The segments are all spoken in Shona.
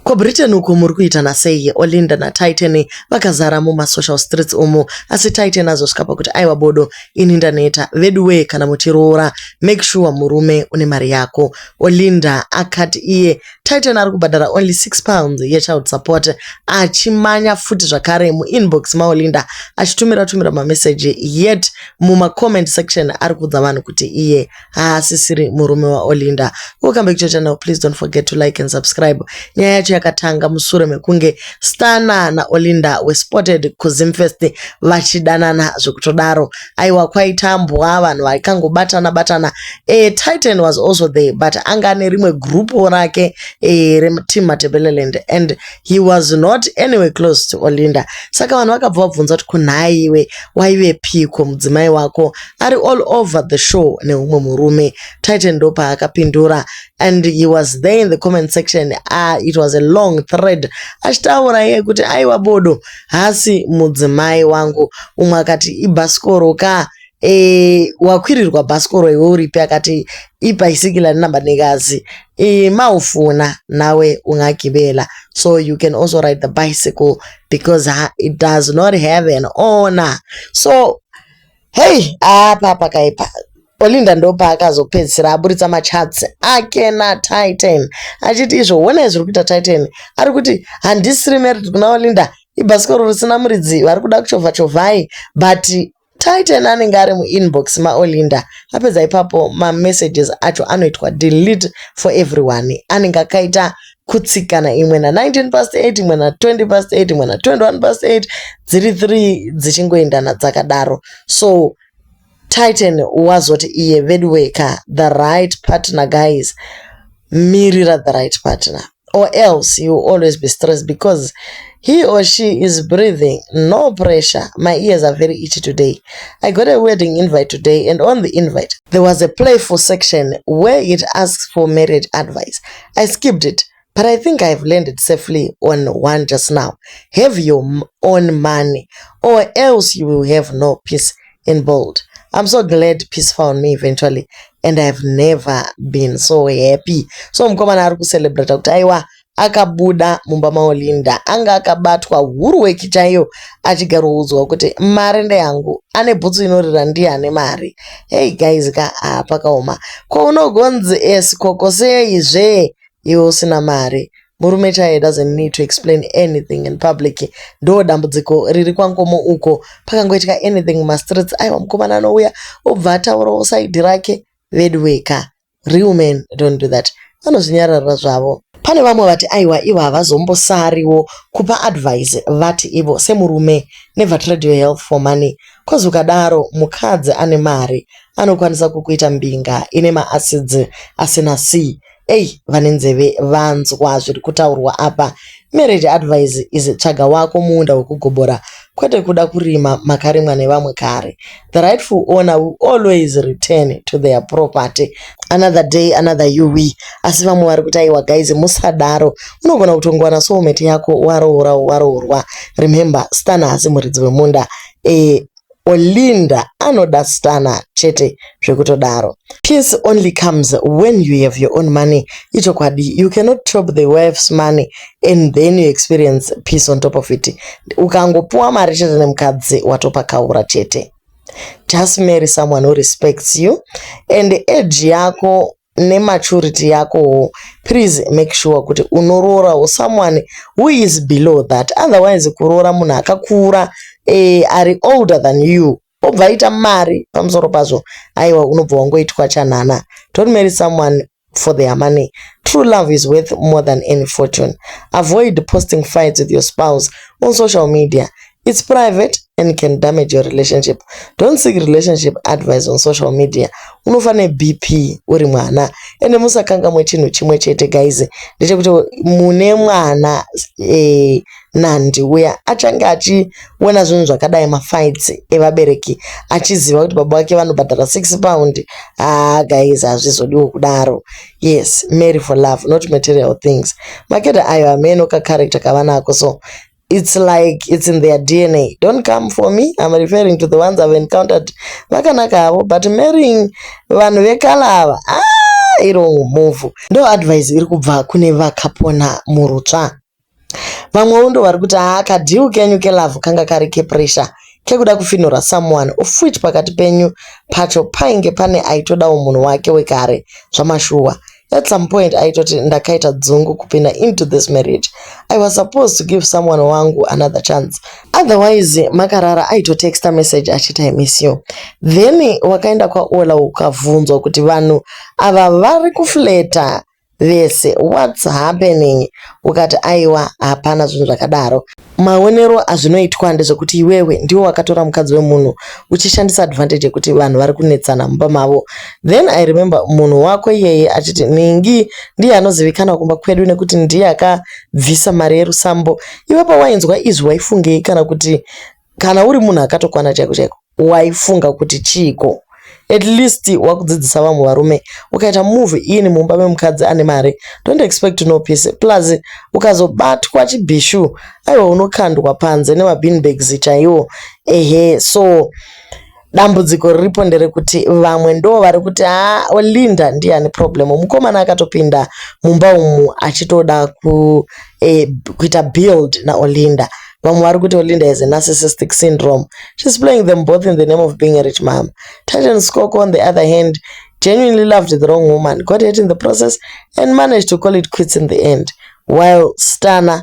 Ko Britain uko muri kuita nasei? Olinda naTitan vakazara mumasocial streets umu asi Titan azosvika pakuti aiwa bodo ini ndaneta veduwee kana muchiroora make sure murume une mari yako. Olinda akati iye Titan ari kubhadhara only 6 pounds yechild support achimanya futi zvakare muinbox maOlinda achitumira tumira mameseji yet mumacomment section ari kuudza vanhu kuti iye haasisiri murume waolinda welcome back to channel please don't forget to like and subscribe nyaya yacho yakatanga musure mekunge stana naolinda wespotted kuzimfest vachidanana zvekutodaro aiwa kwaitambwa vanhu vaikangobatana batana e, titan was also there but anga ane rimwe grupo rake e, reteam matebeleland and he was not anyway close to olinda saka vanhu vakabva vabvunza kuti kunhaiwe waive piko mudzimai wako ari all over the show neumwe murume titan ndopaakapindura and he was there in the comment section ah, it was a long thread achitaura iye kuti aiwa bodo hasi mudzimai wangu umwe akati ibhasikoro ka e, wakwirirwa bhasikoro iwe uripi akati ibhaisikila rinamba nekazi e, maufuna nawe ungagibela so you can also ride the bicycle because it does not have an owner so Hei apa pakaipa Olinda ndopaakazopedzisira aburitsa machatsi ake naTitan achiti izvo honai zviri kuita Titan ari kuti handisiri married kuna Olinda ibhasikoro risina muridzi vari kuda kuchovha chovhai but Titan anenge ari muinbox maOlinda apedza ipapo mamessages acho anoitwa delete for everyone anenge akaita kutsikana imwe na 19 past 8 imwe na 20 past 8 imwe na 21 past 8 dziri 3 dzichingoendana dzakadaro so titan wazoti iye veduwee ka the right partner guys mirira the right partner or else you will always be stressed because he or she is breathing no pressure my ears are very itchy today i got a wedding invite today and on the invite there was a playful section where it asks for marriage advice I skipped it but I think I have landed safely on one just now. Have your own money or else you will have no peace in bold. I'm so glad peace found me eventually and I've never been so happy. So mkomana ari kucelebrate kuti aiwa akabuda mumba maolinda anga akabatwa huruweki chaiyo achigaroudzwa kuti mari ndeyangu ane bhutsu inorira ndiye ane mari Hey guys ka ah, pakaoma ko unogonzi esikoko eh, sei zve iwe usina mari murume chaye doesn't need to explain anything in public ndo dambudziko riri kwangomo uko pakangoitika anything mumastreets aiwa mukomana anouya obva ataurawo saidi rake veduweka Real men don't do that. Vanozvinyararira zvavo. Pane vamwe vati aiwa ivo havazombosariwo kupa advice vati ivo semurume never trade your health for money coz ukadaro mukadzi ane mari anokwanisa kukuita mbinga ine maacids asina c. Ey vane nzeve vanzwa zviri kutaurwa apa. Marriage advice is tsvaga wako muunda wekugobora kwete kuda kurima makarimwa nevamwe kare. The rightful owner will always return to their property. Another day another UV. Asi vamwe vari kuti aiwa guys musadaro. Unogona kutongowana soulmate yako waroora waroorwa. Remember Stana haasi muridzi wemunda. Eh, Olinda anoda Stana chete zvekutodaro. Peace only comes when you have your own money. Ichokwadi, you cannot chop the wife's money and then you experience peace on top of it ukangopuwa mari chete nemukadzi watopakaura chete just marry someone who respects you and age yako nematurity yakowo please make sure kuti unoroorawo someone who is below that otherwise kuroora munhu akakura eh, ari older than you obva aita mari pamusoro pazvo aiwa unobva wangoitwa chanhana don't marry someone for their money true love is worth more than any fortune avoid posting fights with your spouse on social media it's private and can damage your relationship don't seek relationship advice on social media unofa nebp uri mwana ende musakangamwe chinhu chimwe chete guys ndechekuti mune mwana eh, Nandi uya achange achiona zvinhu zvakadai mafights evabereki achiziva kuti baba vake vanobhadhara six pound haa ah, guys hazvizodiwo kudaro yes mary for love not material things makeda ayo hameno kacharacter kavanako so it's like it's in their dna don't come for me i'm referring to the ones i've encountered vakanaka havo but marrying vanhu vekalava ah, iro move ndo advice iri kubva kune vakapona murutsva Vamwewo ndoo varikuti haa ka deal kenyu ke love kanga kari ke pressure kekuda kufinhura someone of which pakati penyu pacho painge pane aitodawo munhu wake wekare zvamashuwa. At some point aitoti ndakaita dzungu kupinda into this marriage. I was supposed to give someone wangu another chance otherwise makarara aito texta message achiti I miss you then wakaenda kwaOla ukavhunzwa kuti vanhu ava vari kuflater vese what's happening ukati aiwa hapana zvinhu zvakadaro maonero azvinoitwa ndezvekuti iwewe ndiwo wakatora mukadzi wemunhu uchishandisa advantage yekuti vanhu vari kunetsana mumba mavo then i remember munhu wako iyeye achiti ningi ndiye anozivikanwa kumba kwedu nekuti ndiye akabvisa mari yerusambo iwe pawainzwa izvi waifungei kana kuti kana uri munhu akatokwana chaiko chaiko waifunga kuti chiiko at least wakudzidzisa vamwe varume ukaita move in mumba memukadzi ane mari don't expect no peace plus ukazobatwa chibhishu aiwa unokandwa panze nemabinbags chaiwo ehe so dambudziko riripo nderekuti vamwe ndo vari kuti ha olinda ndiye ane problem mukomana akatopinda mumba umu achitoda ku, eh, kuita build naolinda vamwe vari kuti olinda is a narcissistic syndrome shes playing them both in the name of being a rich mama titan scoko on the other hand genuinely loved the wrong woman got it in the process and managed to call it quits in the end while stana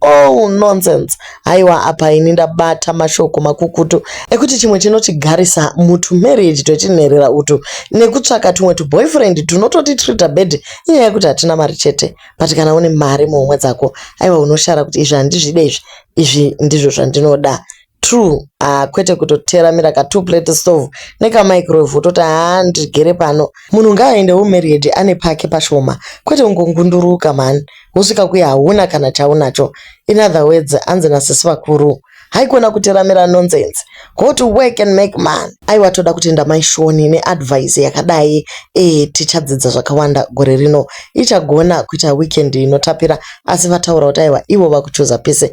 Oh nonsense haiwa apa ini ndabata mashoko makukutu ekuti chimwe chinotigarisa mutu marriage twetinherera utu nekutsvaka tumwe tuboyfriend tunototi treater bed inyaya yekuti hatina mari chete but kana une mari muhomwe dzako aiwa unoshara kuti izvi handizvide izvi izvi ndizvo zvandinoda True ah kwete kutoteramira ka two plate stove neka microwave wototi haa ndigere pano. Munhu ngaaende wo married ane pake pashoma kwete kungongunduruka mhani wosvika kuya hauna kana chaunacho in other words hanzi na sisi vakuru haikona kuteramira nonsense go to work and make money. Aiwa toda kutenda mai Shoni ne advice yakadai eh tichadzidza zvakawanda gore rino. Ichagona kuita weekend inotapira asi vataura kuti aiwa ivo vakuchuza peace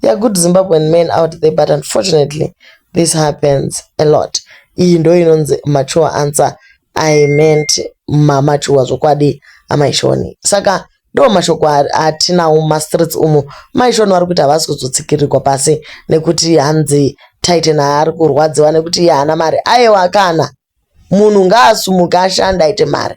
They are good Zimbabwean men out there but unfortunately this happens a lot. Iyi ndo inonzi mature answer I meant mamature zvokwadi amai Shoni. Saka ndo mashoko atinawo mumastreets umu. Mai Shoni vari kuti havasi kuzotsikirirwa pasi nekuti hanzi Titan haari kurwadziwa nekuti iye haana mari. Ayewa kana munhu ngaasumuke ashande aite mari.